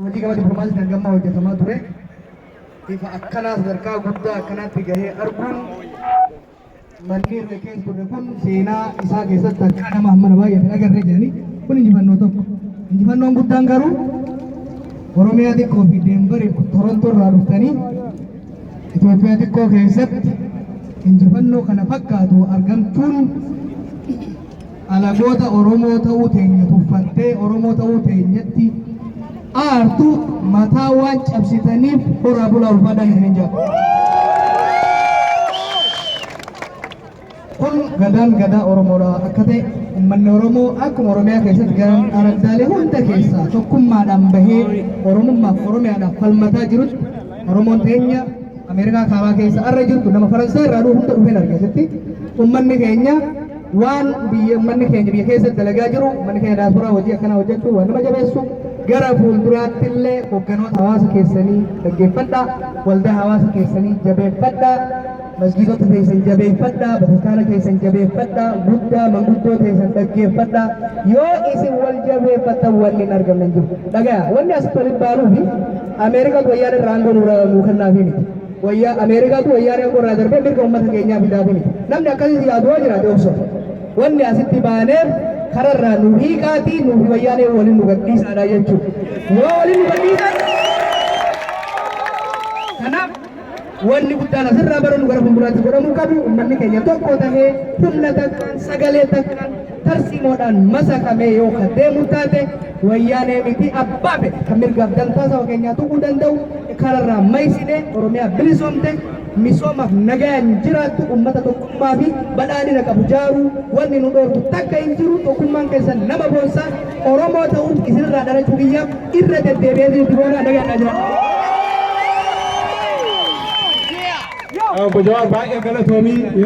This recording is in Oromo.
Hojii gama diplomaasiitiin hanga ammaa hojjetamaa ture ifa akkanaa sadarkaa guddaa akkanaatti gahee arguun manni irra keessa turre kun seenaa isaa keessatti harkaa nama hammana baay'ee hin agarree jedhanii kun injifannoo tokko. Injifannoon guddaan garuu Oromiyaa xiqqoo fi Deembarii Torontoo irraa dhuftanii Itoophiyaa xiqqoo keessatti injifannoo kana fakkaatu argamtuun Alagoota Oromoo ta'uu teenya tuffattee Oromoo ta'uu teenyatti aartu mataa waan cabsitaniif horaa bulaa ulfaadhaa isiniin jedha. Kun gadaan gadaa Oromoodha akka ta'e uummanni Oromoo akkuma Oromiyaa keessatti garan araddaalee hunda keessaa tokkummaadhaan bahee Oromummaaf Oromiyaadhaaf falmataa jirutti Oromoon teenya Ameerikaa kaabaa keessa arra jirtu nama Faransaay irraa dhufu hunda dhufeen argeesitti uummanni keenya waan biyya ummanni keenya biyya keessatti dalagaa jiru ummanni keenya daasporaa hojii akkanaa hojjechuu waan nama jabeessu gara fuulduraatti illee hogganoota hawaasa keessanii dhaggeeffadha waldaa hawaasa keessanii jabeeffadha masgiidota keessan jabeeffadha bataskaana keessan jabeeffadha guddaa manguddoo keessan dhaggeeffadha yoo isin wal jabeeffattan wanni hin argamne hin jiru dhagaya wanni asitti walitti baanuufi ameerikaa wayyaan irraa aangoo nuu kennaafi miti Wayyaa Ameerikaatu wayyaanee aangoo irraa darbee mirga ummata keenyaa fidaa kuni. Namni akkasitti yaadu yoo jiraate obsa. Wanni asitti baaneef kararraa nu hiiqaatii nuufi wayyaanee waliin nu gadhiisaadha jechuudha. Yoo waliin nu gadhiisan kanaaf wanni guddaan asirraa baranu gara fuulduraatti godhamuu qabu ummanni keenya tokko tahee humna takkaan sagalee takkaan tarsiimoodhaan masakamee yoo kan deemu taate wayyaanee miti abbaa fedhe kan mirgaaf dantaa saba keenyaa tuquu danda'u kanarraa maysinee Oromiyaa bilisoomte misoomaaf nagayaan jiraattu uummata tokkummaa fi badhaadhina qabu jaaruu wanni nu dhoorgu takka hin jiru tokkummaan keessan nama boonsaa Oromoo ta'uun isinirraa dhalachuu kiyyaaf irra deddeebi'ee jirti boonaa nagaadhaa jiraatu. Obbo Jawaar baay'ee galatoomii yeroo